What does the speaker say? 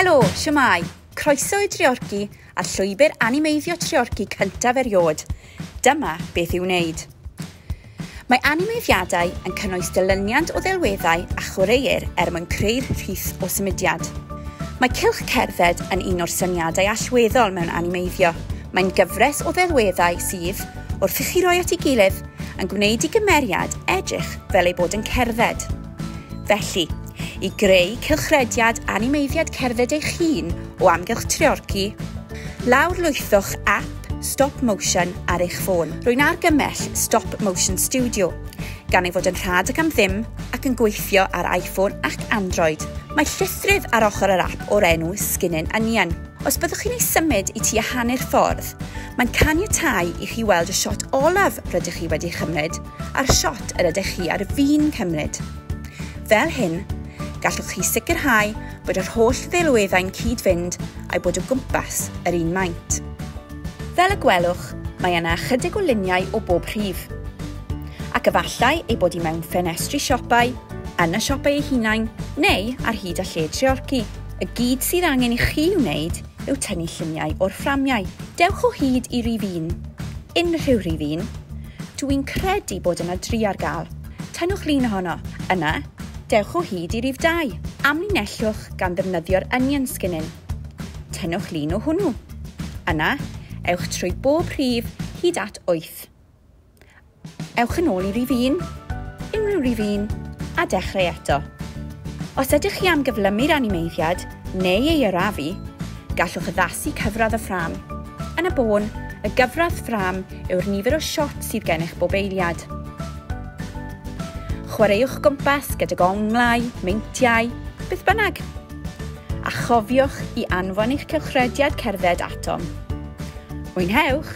Helo, siwmai! Croeso i Dreorci a'r llwybr animeiddio Treorci cyntaf erioed. Dyma beth i'w wneud. Mae animeiddiadau yn cynnwys dilyniant o ddelweddau a chwaraeir er mwyn creu'r rhith o symudiad. Mae cylch cerdded yn un o'r syniadau allweddol mewn animeiddio. Mae'n gyfres o ddelweddau sydd, wrth i chi roi at ei gilydd, yn gwneud i gymeriad edrych fel ei bod yn cerdded. Felly, i greu cylchrediad animeiddiad cerdded eich hun o amgylch Treorci, lawrlwythwch ap Stop Motion ar eich ffôn. Rwy'n argymell Stop Motion Studio, gan ei fod yn rhad ac am ddim ac yn gweithio ar iPhone ac Android. Mae llythryd ar ochr yr ap o'r enw Skinnin' Onion. Os byddwch chi'n ei symud i tua hanner ffordd, mae'n caniatáu i chi weld y siot olaf rydych chi wedi ei chymryd, a'r shot yr ydych chi ar fin cymryd. Fel hyn, gallwch chi sicrhau bod yr holl ddelweddau'n cyd-fynd a'i bod o gwmpas yr un maint. Fel y gwelwch, mae yna ychydig o luniau o bob rhif. Ac efallai ei bod i mewn ffenestri siopau, yn y siopau eu hunain, neu ar hyd a lled Treorci. Y gyd sydd angen i chi wneud yw tynnu lluniau o'r fframiau. Dewch o hyd i rif un, unrhyw rif un, Dw i'n credu bod yna dri ar gael. Tynnwch lun ohono. Yna, dewch o hyd i rif dau. Amlinellwch gan ddefnyddio'r onion skinning. Tynnwch lun o hwnnw. Yna, ewch trwy bob rhif hyd at wyth. Ewch yn ôl i rif un, unrhyw rif un, a dechrau eto. Os ydych chi am gyflymu'r animeiddiad neu ei arafu, gallwch addasu cyfradd y ffrâm. Yn y bôn, y gyfradd ffrâm yw'r nifer o shots sydd gennych bob eiliad. Chwaraewch gwmpas gydag onglau, meintiau, beth bynnag. A chofiwch i anfon eich cylchrediad cerdded atom. Mwynhewch!